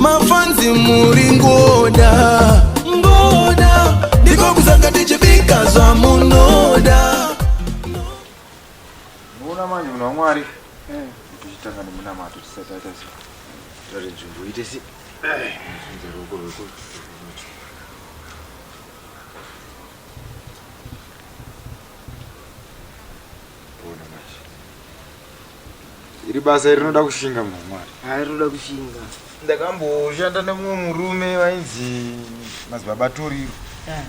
mafanzi muri ngoda ngoda ndiko kuzanga tichibika zvamunoda muona manje muna mwari eh. tichitanga nemunamato tisati aita si tore nzvimbo ite si zvinze ruoko rweku Iri basa iri rinoda kushinga munhu wamwari. Haa rinoda kushinga. Ndakamboshanda nemumwe murume vainzi madzibaba Toriro. Eh.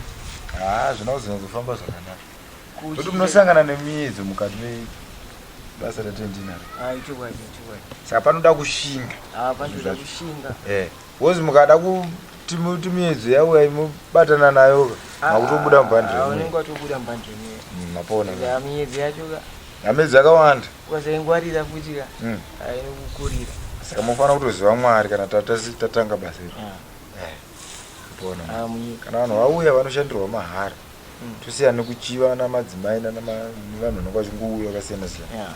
Haa zvina kuzonyadzofamba zvakanaka. Kuti munosangana nemiedzo mukati mebasa ratinaro. Haa ichokwadi ichokwadi. Saka panoda kushinga. Haa panoda kushinga. Eh. Wozi mukada kuti muti miedzo yauya imobatana nayo ka. Ah, Makutobuda ah, mubhandre. Ah, unenge watobuda mubhandre. Mm, mapona. Ya miedzo yacho ka. Ya miedzo yakawanda. Ukasaingwarira futi ka. Mm. Ainokukurira. Saka mofana kutoziva Mwari kana tatasi tatanga basa iri. Ah. Eh. Mapona. Ah, munyika. Kana vanhu vauya vanoshandirwa mahara. Mm. Tusiyane kuchiva na madzimai na vanhu vanokwa chingouya kasiyana siyana. Yeah.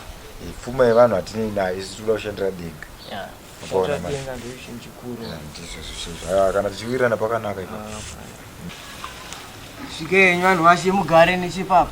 Pfuma yevanhu hatinei nayo isi tikuda kushandira denga. Yeah. Zvachatenga ndizvo chinhu chikuru. Ndizvo zvizvo. Haya kana tichiwirirana pakanaka ipo. Svikenywa vanhu vashe mugare nechipapa.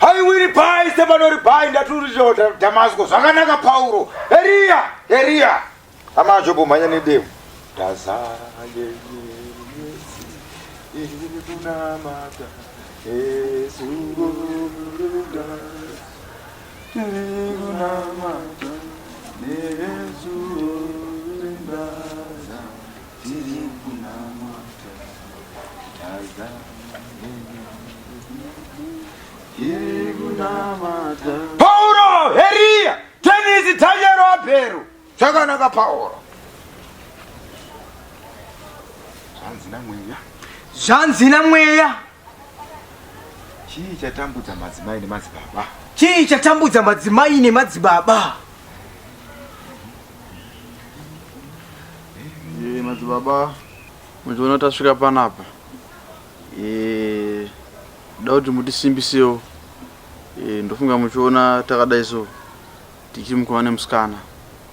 haiwiri pai sepanori pai ndaturiro dhamasko zvakanaka pauro eriya eriya hama ajobho mhanya nedemo ndazara yeyeesi iri kunamata esuruda iri kunamata neesuruda Pauro, Heria, Tenisi, Tanyero, Abhero. Chakanaka Pauro. Zvanzi na mweya. Zvanzi na mweya. Chii chatambudza madzimai nemadzibaba? Chii chatambudza madzimai nemadzibaba? Eh, madzibaba muchiona tasvika panapa eh, da kuti mutisimbisewo eh, ndofunga muchiona takadai so tichimukomana nemusikana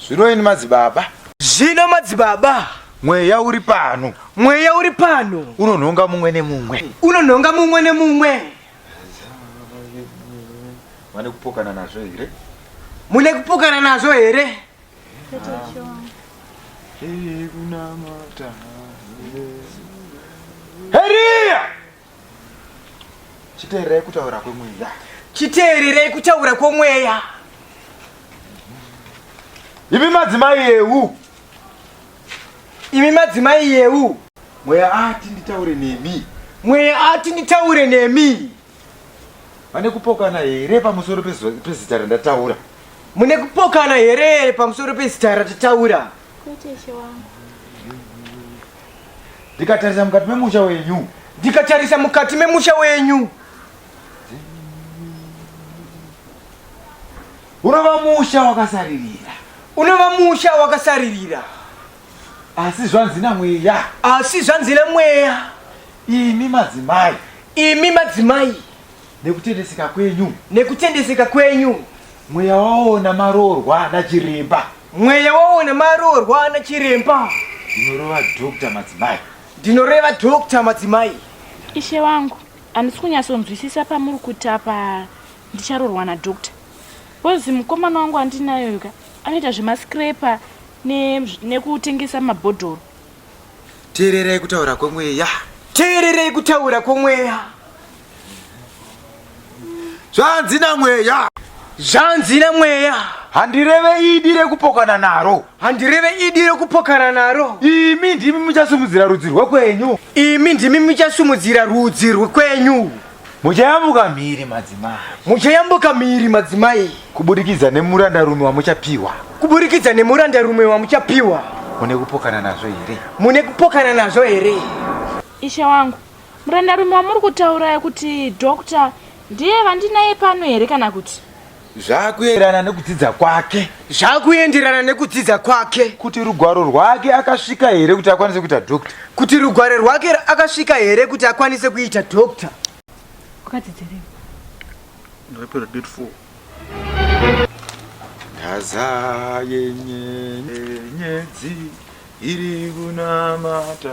Zvino ini madzibaba. Zvino madzibaba. Mweya uri pano. Mweya uri pano. Unonhonga mumwe nemumwe. Unonhonga mumwe nemumwe. Vane kupokana nazvo here? Mune kupokana nazvo here? Heriya! chiteererei kutaura kwemweya chiteererei kutaura kwomweya imi madzimai yeu imi madzimai yeu mweya ati nditaure nemi mweya ati nditaure nemi vane kupokana here pamusoro pezo- pezita randataura mune kupokana here pamusoro pezita ratataura kwete ishe wangu ndikatarisa mukati memusha wenyu ndikatarisa mukati memusha wenyu unova musha wakasaririra unova musha wakasaririra asi zvanzi namweya asi zvanzi namweya imi madzimai imi madzimai nekutendeseka kwenyu nekutendeseka kwenyu mweya waona maroorwa nachiremba mweya waona maroorwa nachiremba ndinoreva dr madzimai ndinoreva dr madzimai ishe wangu handisi kunyatsonzwisisa pamuri kuti apa ndicharorwa nadocta bcozi mukomana wangu andinayoka anoita zvemascraper nekutengesa ne mabhodhoro teererai kutaura kwemweya teererai kutaura kwemweya zvanzi namweya zvanzi namweya handireve idi rekupokana naro handireve idi rekupokana naro imi ndimi muchasumudzira rudzi rwekwenyu imi ndimi muchasumudzira rudzi rwekwenyu muchayambuka mhiri madzimai muchayambuka mhiri madzimai kuburikidza nemurandarume wamuchapiwa kuburikidza nemurandarume wamuchapiwa mune kupokana nazvo here mune kupokana nazvo here ishe wangu Murandarume wamuri kutauraya kuti doctor ndiye vandinaye pano here kana kuti? Zvakuenderana nekudzidza kwake. Zvakuenderana nekudzidza kwake. Kuti rugwaro rwake akasvika here kuti akwanise kuita doctor? Kuti rugwaro rwake akasvika here kuti akwanise kuita doctor? Wakadzidzirei? Ndakapera grade 4. Ndazaye nyenyedzi iri kunamata.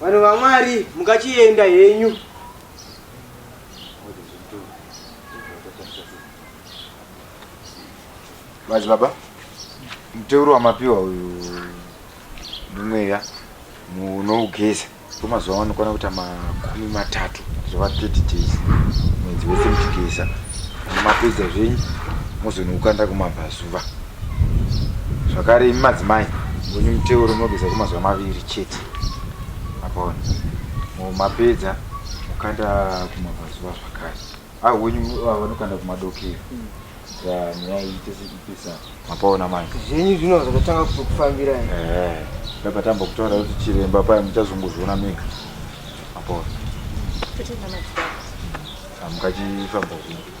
Vanhu vaMwari mukachienda henyu. Bazi baba, muteuro wamapiwa uyu ndimweya munougeza. Kwemazuva vanokwana kuita makumi matatu zvava 30 days mwedzi wese muchigeza mapedza zvenyu mozonokanda kumabvazuva zvakare imi madzimai vonyu muteuro munogeza kwemazuva maviri chete apaona mapedza mukanda kumabvazuva zvakare Ah, wenyu ah, vanokanda kumadokero. Ya, nyaya iyi tese ipesa. Mapaona manje. Zvenyu zvino zvakatanga kutokufambira ere? Eh, ndakatamba kutaura kuti chiremba paya muchazongozviona mega. Mapaona. Totenga madzibaba. Ah, mukachifamba kuno.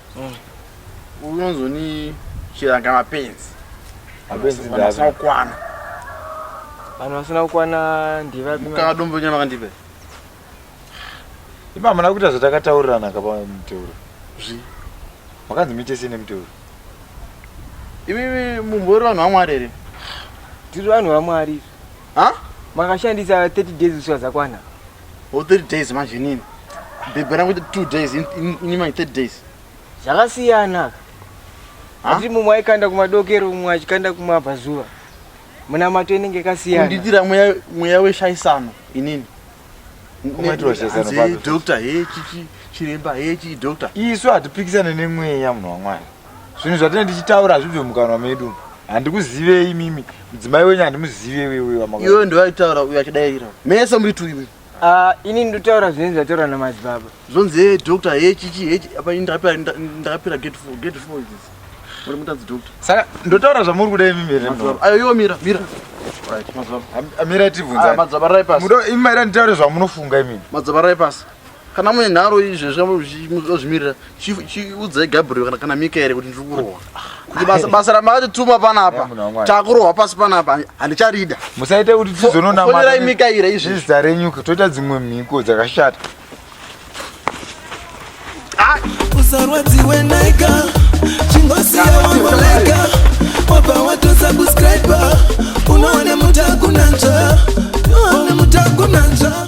Mm. Unozoni chiranga mapenzi. Mapenzi ndava. Vanasina kukwana. Vanhu vasina kukwana ndiva. Mukaka dombo nyama kandipe. Ima muna kuita zvatakataurirana kapa muteuro. Zvi. Makanzi mite sine muteuro. Imi mumbori vanhu vaMwari here? Tiri vanhu vaMwari. Ha? Makashandisa 30 days uswa zakwana. or three days manje inini bhebhi rangu ita two days in- in- ini manje thirty days zvakasiyana Ha? asi mumwe aikanda kumadokero mumwe achikanda kumabvazuva munamato inenge kasiyana kundiitira mweya mweya weshaisano inini Kumaitirwa shaisano Hanzi, papi? doctor he chichi chiremba he chii doctor isu hatipikisane nemweya munhu wamwari zvinhu zvatinenge tichitaura hazvibve mukanwa medu handikuzivei mimi mudzimai wenyu handimuzive weweamaiwe ndovaitaura uyo achidairira mese muri tuiwe ah, ini ndotaura zvinenge zvataura namadzibaba zvonzi he doctor he chichi he apa ndakapira gate four gate four idzis muri mutadzi doctor saka ndotaura zvamuri kudai mimi here ayo iwo mira mira amira ah, tivhunza ah, madzabaraipasi imi maida nditaure zvamunofunga imimi madzabaraipasi kana mune nharo izvezvi muzvimirira chiudzai gabriel kana kana mikaeri kuti ndiri kurohwa kuti basa basa ramakatituma panapa takurohwa pasi panapa handicharida musaite kuti tizononafonderai mikaira izvi zita renyu toita dzimwe mhiko dzakashata ah! usarwadziwe naika chingosiyawamaleka wabva watosubscribe unoone mutakunanzva unoone mutakunanzva